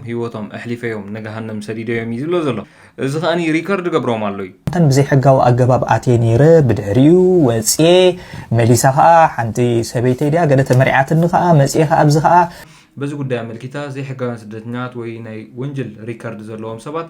ሂወቶም ኣሕሊፈዮም ንገሃነም ሰዲደዮም እዩ ዝብሎ ዘሎ እዚ ከኣ ሪከርድ ገብሮም ኣሎ እዩ። ኣንተን ብዘይሕጋዊ ኣገባብ ኣትየ ኔረ ብድሕሪኡ ወጽየ መሊሳ ከኣ ሓንቲ ሰበይተይ ድያ ገለ ተመሪዓትኒ ከኣ መጽየ ከኣ ኣብዚ ከኣ። በዚ ጉዳይ ኣመልኪታ ዘይሕጋውያን ስደተኛታት ወይ ናይ ወንጀል ሪከርድ ዘለዎም ሰባት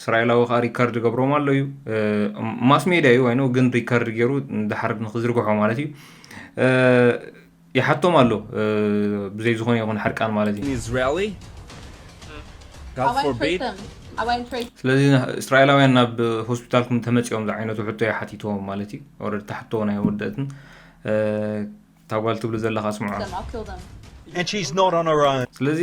እስራኤላዊ ከኣ ሪከርድ ገብሮም ኣሎ እዩ ማስ ሜድያ እዩ ይኑ ግን ሪከርድ ገይሩ ድሓር ንክዝርግሖ ማለት እዩ ይሓቶም ኣሎ ብዘይ ዝኾነ ይኹን ሓርቃን ማለት እዩ ስለዚ እስራኤላውያን ናብ ሆስፒታልኩም ተመፂኦም ዝዓይነቱ ሕቶ እየ ሓቲትዎም ማለት እዩ ኦረዲ ታሕቶ ናይ ወደእትን ታጓል ትብሉ ዘለካ ስምዖ ስለዚ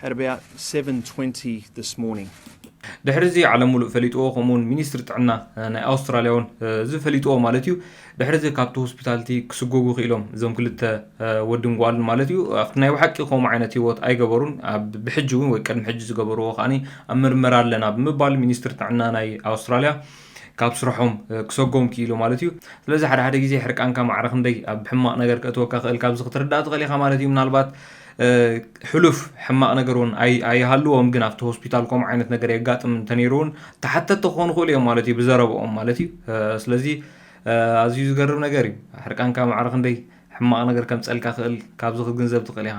At about seven twenty this morning. ድሕሪ እዚ ዓለም ሙሉእ ፈሊጥዎ ከምኡ ውን ሚኒስትሪ ጥዕና ናይ ኣውስትራልያ ውን እዚ ፈሊጥዎ ማለት እዩ ድሕሪ እዚ ካብቲ ሆስፒታል እቲ ክስጎጉ ክኢሎም እዞም ክልተ ወድን ጓልን ማለት እዩ ኣብቲ ናይ ባሓቂ ከምኡ ዓይነት ህይወት ኣይገበሩን ኣብ ብሕጂ ውን ወይ ቅድሚ ሕጂ ዝገበርዎ ከዓኒ ኣብ ምርመራ ኣለና ብምባል ሚኒስትሪ ጥዕና ናይ ኣውስትራልያ ካብ ስርሖም ክሰጎም ክኢሉ ማለት እዩ ስለዚ ሓደ ሓደ ግዜ ሕርቃንካ ማዕረ ክንደይ ኣብ ሕማቅ ነገር ከእትወካ ክእል ካብዚ ክትርዳእ ትኽእል ኢኻ ማለት እዩ ምናልባት ሕሉፍ ሕማቅ ነገር እውን ኣይሃልዎም ግን ኣብቲ ሆስፒታል ከምኡ ዓይነት ነገር የጋጥም እንተነይሩ እውን ተሓተቲ ክኾኑ ክእሉ እዮም ማለት እዩ ብዘረብኦም ማለት እዩ ስለዚ ኣዝዩ ዝገርም ነገር እዩ ሕርቃንካ ማዕረ ክንደይ ሕማቅ ነገር ከምፀልካ ክእል ካብዚ ክትግንዘብ ትኽእል ኢኻ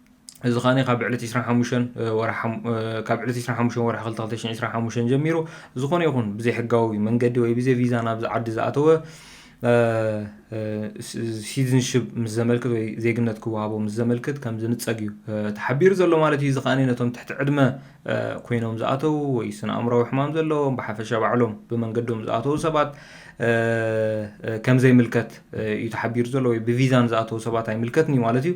እዚ ከኣ ካብ ዕለት ዕስራን ሓሙሽተን ወርሓ ካብ ዕለት ዕስራን ሓሙሽተን ወርሒ ክልተ ክልተ ሽሕን ዕስራን ሓሙሽተን ጀሚሩ ዝኾነ ይኹን ብዘይሕጋዊ መንገዲ ወይ ብዘይ ቪዛ ናብዚ ዓዲ ዝኣተወ ሲቲዝንሽፕ ምስ ዘመልክት ወይ ዜግነት ክወሃቦ ምስ ዘመልክት ከም ዝንፀግ እዩ ተሓቢሩ ዘሎ ማለት እዩ እዚ ከኣ ነቶም ትሕቲ ዕድመ ኮይኖም ዝኣተዉ ወይ ስነ ኣእምራዊ ሕማም ዘለዎም ብሓፈሻ ባዕሎም ብመንገዶም ዝኣተዉ ሰባት ከም ዘይምልከት እዩ ተሓቢሩ ዘሎ ወይ ብቪዛን ዝኣተዉ ሰባት ኣይምልከትን እዩ ማለት እዩ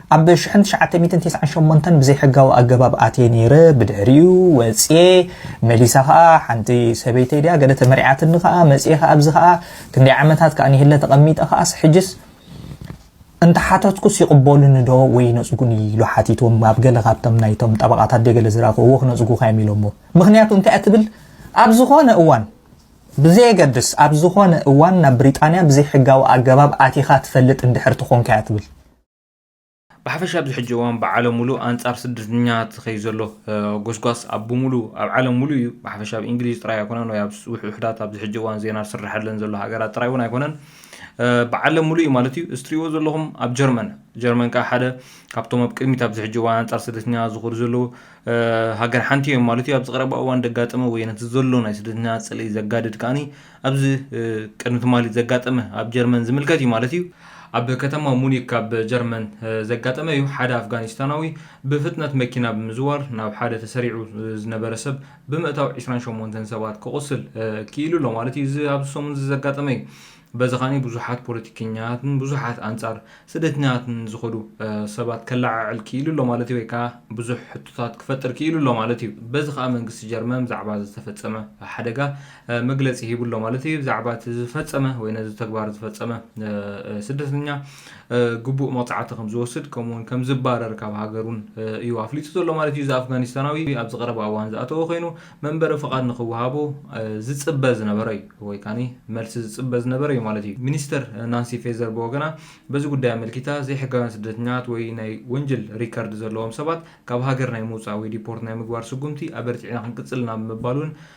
ኣብ ሽሕን ትሽዓተ ሚእትን ቴስዓን ሸሞንተን ብዘይሕጋዊ ኣገባብ ኣትየ ነይረ ብድሕሪኡ ወጽየ መሊሳ ከኣ ሓንቲ ሰበይተይ ድያ ገለ ተመሪዓትኒ ከኣ መጽየ ከኣ ኣብዚ ከኣ ክንደይ ዓመታት ከኣ ንሂለ ተቐሚጠ ከኣስ ሕጅስ እንተሓተትኩስ ይቕበሉኒ ዶ ወይ ይነጽጉኒ ኢሉ ሓቲትዎም ኣብ ገለ ካብቶም ናይቶም ጠበቓታት ድየ ገለ ዝረኣኹ እዎ ክነጽጉኻ እዮም ኢሎሞ ምኽንያቱ እንታይ እያ ትብል ኣብ ዝኾነ እዋን ብዘየገድስ ኣብ ዝኾነ እዋን ናብ ብሪጣንያ ብዘይሕጋዊ ኣገባብ ኣቲኻ ትፈልጥ እንድሕር ትኾንካ እያ ትብል ብሓፈሻ ኣብዚ ሕጂ እዋን ብዓለም ሙሉእ ኣንጻር ስደተኛታት ዝኸይ ዘሎ ጎስጓስ ኣብ ብሙሉ ኣብ ዓለም ሙሉእ እዩ ብሓፈሻ ኣብ እንግሊዝ ጥራይ ኣይኮነን ወይ ኣብ ውሕዳት ኣብዚ ሕጂ እዋን ዜና ዝስረሓለን ዘሎ ሃገራት ጥራይ እውን ኣይኮነን ብዓለም ሙሉእ እዩ ማለት እዩ እስትሪእዎ ዘለኹም ኣብ ጀርመን ጀርመን ከዓ ሓደ ካብቶም ኣብ ቅድሚት ኣብዚ ሕጂ እዋን ኣንጻር ስደተኛታት ዝኾዱ ዘለዉ ሃገር ሓንቲ እዮም ማለት እዩ ኣብዚ ቀረባ እዋን ደጋጠመ ወይ ነቲ ዘሎ ናይ ስደተኛታት ጽልኢ ዘጋድድ ከዓኒ ኣብዚ ቅድሚ ትማሊ ዘጋጠመ ኣብ ጀርመን ዝምልከት እዩ ማለት እዩ። ኣብ ከተማ ሙኒክ ኣብ ጀርመን ዘጋጠመ እዩ። ሓደ ኣፍጋኒስታናዊ ብፍጥነት መኪና ብምዝዋር ናብ ሓደ ተሰሪዑ ዝነበረ ሰብ ብምእታው ዕስራን ሸሞንተን ሰባት ከቑስል ክኢሉ ኣሎ ማለት እዩ። እዚ ኣብዚ ሰሙን እዚ ዘጋጠመ እዩ። በዚ ከኣ ብዙሓት ፖለቲከኛታትን ብዙሓት ኣንጻር ስደተኛታትን ዝኸዱ ሰባት ከለዓዕል ክኢሉ ኣሎ ማለት እዩ ወይ ከኣ ብዙሕ ሕቶታት ክፈጥር ክኢሉ ኣሎ ማለት እዩ። በዚ ከኣ መንግስቲ ጀርመን ብዛዕባ እዚ ዝተፈጸመ ሓደጋ መግለጺ ሂቡ ኣሎ ማለት እዩ። ብዛዕባ እቲ ዝፈጸመ ወይ ነዚ ተግባር ዝፈጸመ ስደተኛ ግቡእ መቕጻዕቲ ከም ዝወስድ ከምኡውን ከም ዝባረር ካብ ሃገሩን እዩ ኣፍሊጡ ዘሎ ማለት እዩ። እዚ ኣፍጋኒስታናዊ ኣብዚ ቀረባ እዋን ዝኣተወ ኮይኑ መንበሪ ፍቓድ ንክወሃቦ ዝጽበ ዝነበረ እዩ ወይ ካኒ መልሲ ዝጽበ ዝነበረ እዩ ማለት እዩ። ሚኒስተር ናንሲ ፌዘር ብወገና በዚ ጉዳይ ኣመልኪታ ዘይሕጋውያን ስደተኛታት ወይ ናይ ወንጅል ሪከርድ ዘለዎም ሰባት ካብ ሃገር ናይ ምውጻእ ወይ ዲፖርት ናይ ምግባር ስጉምቲ ኣበርቲዕና ክንቅጽል ኢና ብምባል እውን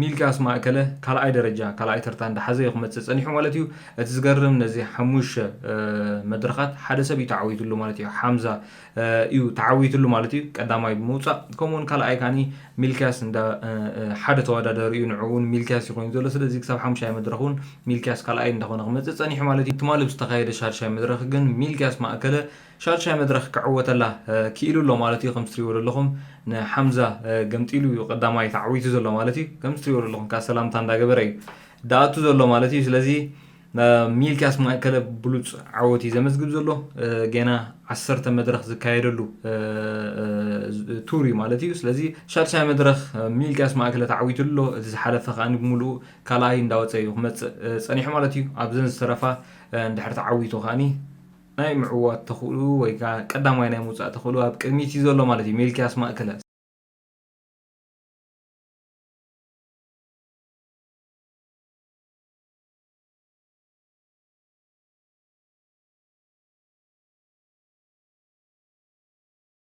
ሚልክያስ ማእከለ ካልኣይ ደረጃ ካልኣይ ተርታ እንዳሓዘ ዩ ክመጽእ ጸኒሑ ማለት ዩ። እቲ ዝገርም ነዚ ሓሙሽተ መድረኻት ሓደ ሰብ ዩ ተዓዊትሉ ማለት ዩ። ሓምዛ ዩ ተዓዊትሉ ማለት ዩ ቀዳማይ ብምውጻእ ከምኡ ውን ካልኣይ ከኣ ሚልክያስ እንዳ ሓደ ተወዳዳሪ ዩ ንዕኡ ውን ሚልክያስ ዩ ኮይኑ ዘሎ ስለዚ ክሳብ ሓሙሻይ መድረኽ ውን ሚልክያስ ካልኣይ እንዳኾነ ክመጽእ ጸኒሑ ማለት ዩ። ትማሊ ብዝተኻየደ ሻድሻይ መድረኽ ግን ሚልክያስ ማእከለ ሻድሻይ መድረኽ ክዕወተላ ክኢሉ ኣሎ ማለት እዩ። ከምቲ ትሪእዎ ዘለኹም ንሓምዛ ገምጢሉ እዩ ቀዳማይ ተዓዊቱ ዘሎ ማለት እዩ። ከምቲ ትሪእዎ ዘለኹም ከዓ ሰላምታ እንዳገበረ እዩ ዳኣቱ ዘሎ ማለት እዩ። ስለዚ ሚልክያስ ማእከለ ብሉፅ ዓወት እዩ ዘመዝግብ ዘሎ። ጌና ዓሰርተ መድረኽ ዝካየደሉ ቱር እዩ ማለት እዩ። ስለዚ ሻድሻይ መድረኽ ሚልክያስ ማእከለ ተዓዊቱ ኣሎ። እቲ ዝሓለፈ ከዓ ብሙሉኡ ካልኣይ እንዳወፀ እዩ ክመፅእ ፀኒሑ ማለት እዩ። ኣብዘን ዝተረፋ እንድሕር ተዓዊቱ ከዓ ናይ ምዕዋት ተኽእልኡ ወይ ከኣ ቀዳማይ ናይ ምውጻእ ተኽእልኡ ኣብ ቅድሚት እዩ ዘሎ ማለት እዩ፣ ሚልክያስ ማእከለ።